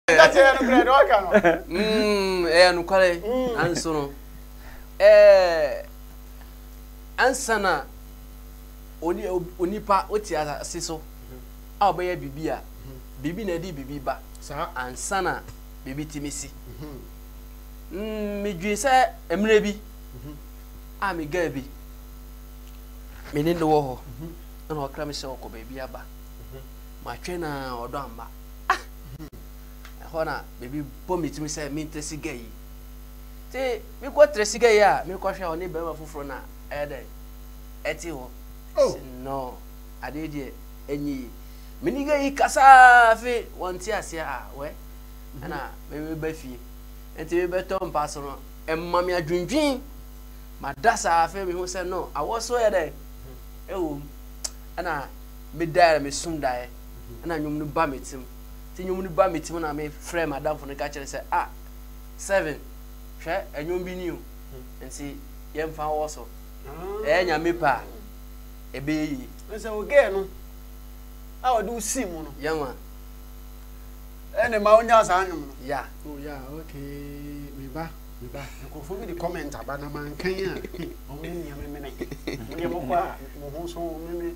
Ɛka sɛ ɛyɛ nokorɛ deɛ ɔka no. Ɛyɛ nokorɛ nanso no ansa na onipa wote ase so a ɔbɛyɛ biribi a biribi na ɛde biribi ba ansa na biribi tumi si. Medwene sɛ mmerɛ bi a megaa bi me ne no wɔ hɔ ɛna ɔkra me sɛ ɔkɔ baabi aba matwɛn a ɔdɔ amma. Ah! Ɛhɔ na biribi bɔ me tirim sɛ mentra siga yi. Nti mekɔtra siga yi a mekɔhwɛ a ɔne barima foforɔ na ɛyɛ dɛ ɛte hɔ. Oh. No, adeɛ deɛ ɛnyɛ yi. Me niga yi kasaa fe wɔnte aseɛ a wɛ. Ɛna mebɛba fie. Nti mebɛtɔ mpa so no ɛma me adwendwen. Mada saa afei mehu sɛ no awɔ so yɛ dɛ ɛwɔ mu. Ɛna medaeɛ na mesum daeɛ. ɛna nnwom no ba me tim nti nnwom no ba me tim na mefrɛ madamfo no ka kyerɛ sɛ a ah, seven hwɛ ɛnwom bi ni o nti yɛmfa wɔ so ɛyɛ nyame pɛ a ɛbɛyɛ yie sɛ wogɛɛ no a ɔde wo sii mu no yɛma ɛne ma wonya saa nnwom no ya oh, ya okay meba meba nkurɔfoɔ bi de comment aba na mankan a ɔmo nneɛma mene modeɛ mokɔ a mo ho so meme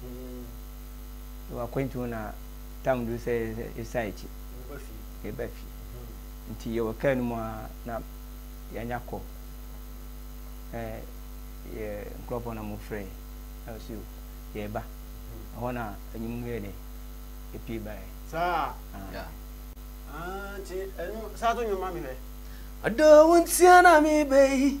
Nti w'akwantu ho na tam duru sɛ yɛsan akyi. Yɛba fie. Nti yɛwɔ kaa no mu a na yɛanya kɔ. Na yɛ nkurɔfoɔ na wɔfrɛ na wɔsi o yɛreba. Ɛhɔ na anwum no yɛ dɛ ɛpie baeɛ. Saa? Nti ɛno saa to nnwom ma me hwɛ. Ɔdɔ wo ntia na mebɛyi.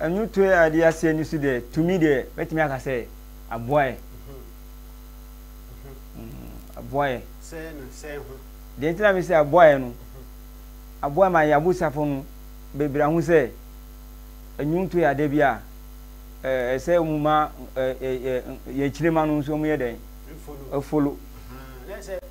Nnwutoe a ɛde aseɛ no su deɛ, tumi deɛ, mɛtumi aka sɛ aboaeɛ. Aboaeɛ. Sɛɛ no sɛɛ ho. Deɛ nti na me sɛ aboaeɛ no, aboaeɛ ma yɛn abusafo no bebree ahu sɛ nnwutoe adeɛ bi a ɛsɛ wɔn ma yɛn kyinema no nso wɔyɛ dɛn? Efolo.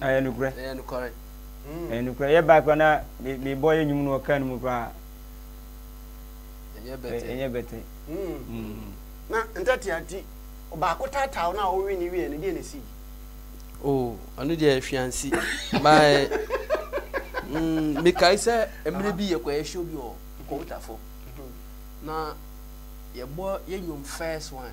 Ɛyɛ nokorɛ. Ɛyɛ nokorɛ. Mm. Ɛyɛ nokorɛ. Yɛ baa kura na me me bɔ yɛ nyum no ɔka no mu kura. Ɛnyɛ bɛtɛ. Ɛnyɛ bɛtɛ. Mm. Mm. Na ntɛte ati ɔbaako taataaw na ɔwe ne wie ne deɛ na esi. Oh, ɔno deɛ hwiansi. Bye. Mm, mekae sɛ mmerɛ bi yɛkɔ yɛ show bi wɔ Nkɔwotafo. Na yɛbɔ yɛ nyum first one.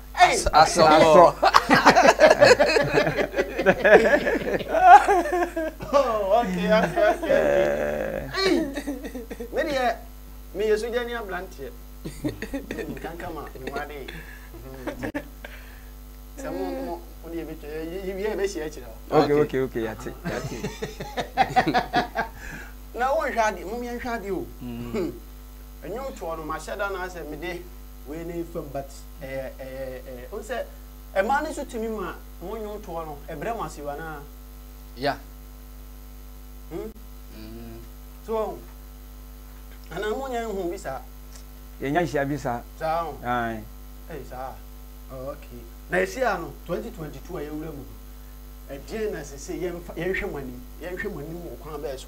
asɔ asɔ me deɛ meyɛ sogya ni abranteɛ nkanka ma mewade sɛ mo mo mo deɛ bɛtwa yɛwie ɛbɛhyia kyerɛ wo okay okay okay yate yate na wonhwɛ adeɛ mom yɛnhwɛ adeɛ o ɛnwom toɔ no mahyɛ da no asɛ mede wei ne fam but Wohu sɛ mmaa no nso tumi ma wɔn nnwontoɔ no, ɛbrɛ wɔn ase o anaa? Yeah. Hmm? Mm. So wɔn ho. Anaa mo nyɛ nhu bi saa? Yɛnyɛ nhyia bi saa. Saa ho. Ae. Ɛyɛ saa. Oh, okay. Na ɛhyia no 2022 a yɛwura mu no, ɛdeɛn na sese yɛnhwɛ mo anim? Yɛnhwɛ mo anim wɔ kwan bɛɛ so?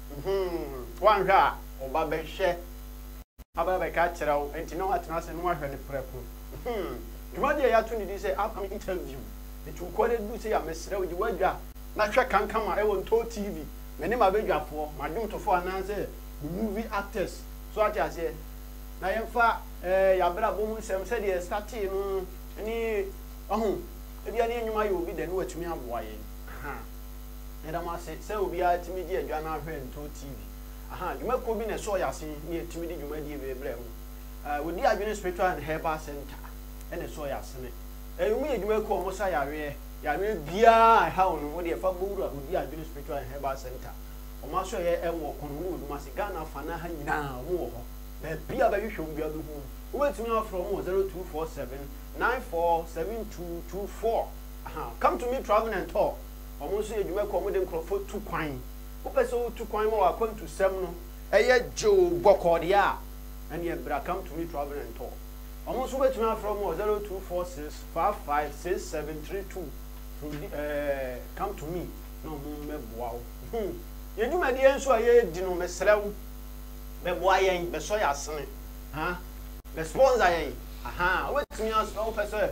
Humm, woanhwɛ a wo ba bɛhwɛ. Aba abɛka akyerɛ wo, enti na watena ase na wahwɛ no prɛko. Humm, dwumadie a yɛato no din sɛ Upcoming Interview de tu kɔ na ɛduru sei a, mesrɛ wo, gye w'adwa na hwɛ Kankama wɔ Ntoo TV. Me ne m'abadwafoɔ, m'adwomtofoɔ anaasɛ me movie actors, so woate aseɛ? Na yɛmfa eh, yɛn abrabɔ mu nsɛm, sɛdeɛ yɛ startee no ne, wahu, ebia ne yɛn nnwuma yɛ obi dɛ na watumi aboa yɛn. Ahaa. Yɛda mo ase sɛ obiara tumi gye adwa no ahwɛ Nto TV. Ahaa, dwumakuo bi na ɛsɔɔ yɛn ase ne yɛtumi de dwumadie wei brɛɛ mo. Ɛɛ, wɔdi adwene Spiritual and Herbal Centre na ɛsɔɔ yɛn ase ne. Ɛɛ, wɔyɛ dwumakuo a wɔsa yareɛ, yareɛ biara a ɛha wo no, wo deɛ fa bɔ wura Odi Adwene Spiritual and Herbal Centre. Wɔn asɔeɛ ɛwɔ Ɔkɔn, wɔn wɔ Kumasi, Ghana fa no ha nyinaa wɔn wɔ hɔ. Baabiara bɛhwehwɛ wɔn biara wobɛhu wɔn. Wobɛtumi afrɛ wɔn wɔ 0247 947224. Ahaa, come to me travel and tour. Wɔn nso yɛ adwuma kɔ, wɔde nkurɔfoɔ tu kwan. Wopɛ sɛ wotu kwan ma w'akwantusɛm no yɛ gyoo bɔkɔɔ deɛ a, ɛnneɛ bra Come to me Travel and Tour. Wɔn nso wobɛtumi afrɛ wɔn wɔ zero two four six five five six seven three two to eh, come to me na wɔn mmɛboa wo. Hmm. Yɛn dwumadie nso a yɛredi no, mesrɛ wo, bɛboa yɛn, bɛsɔ yɛn asene, ha, bɛspɔnsa yɛn, ahaa, wobɛtumi as, wopɛ sɛ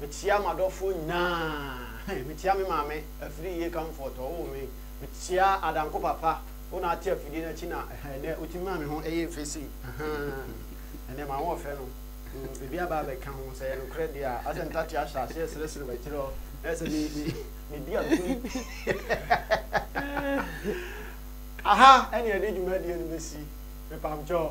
Mekyea m'adɔfoɔ nyinaa. He, mekyea me maame, afiri yie comfort, ɔwoo me. Mekyea adanko papa, wo na ate afidie no akyi na he, ɛnɛ wotumi maa me ho yee fɛ sei. Ahaa, ɛnɛ m'ahoɔfɛ no, mm, biribi aba abɛka ho. Sɛ ɛyɛ nokorɛ deɛ a, asɛ ntate ahyɛ aseɛ seresere w'akyire hɔ, na sɛ me, me, medi agoni. Aha ɛne yɛde dwumadie no bɛsi. Mepamkyɛw.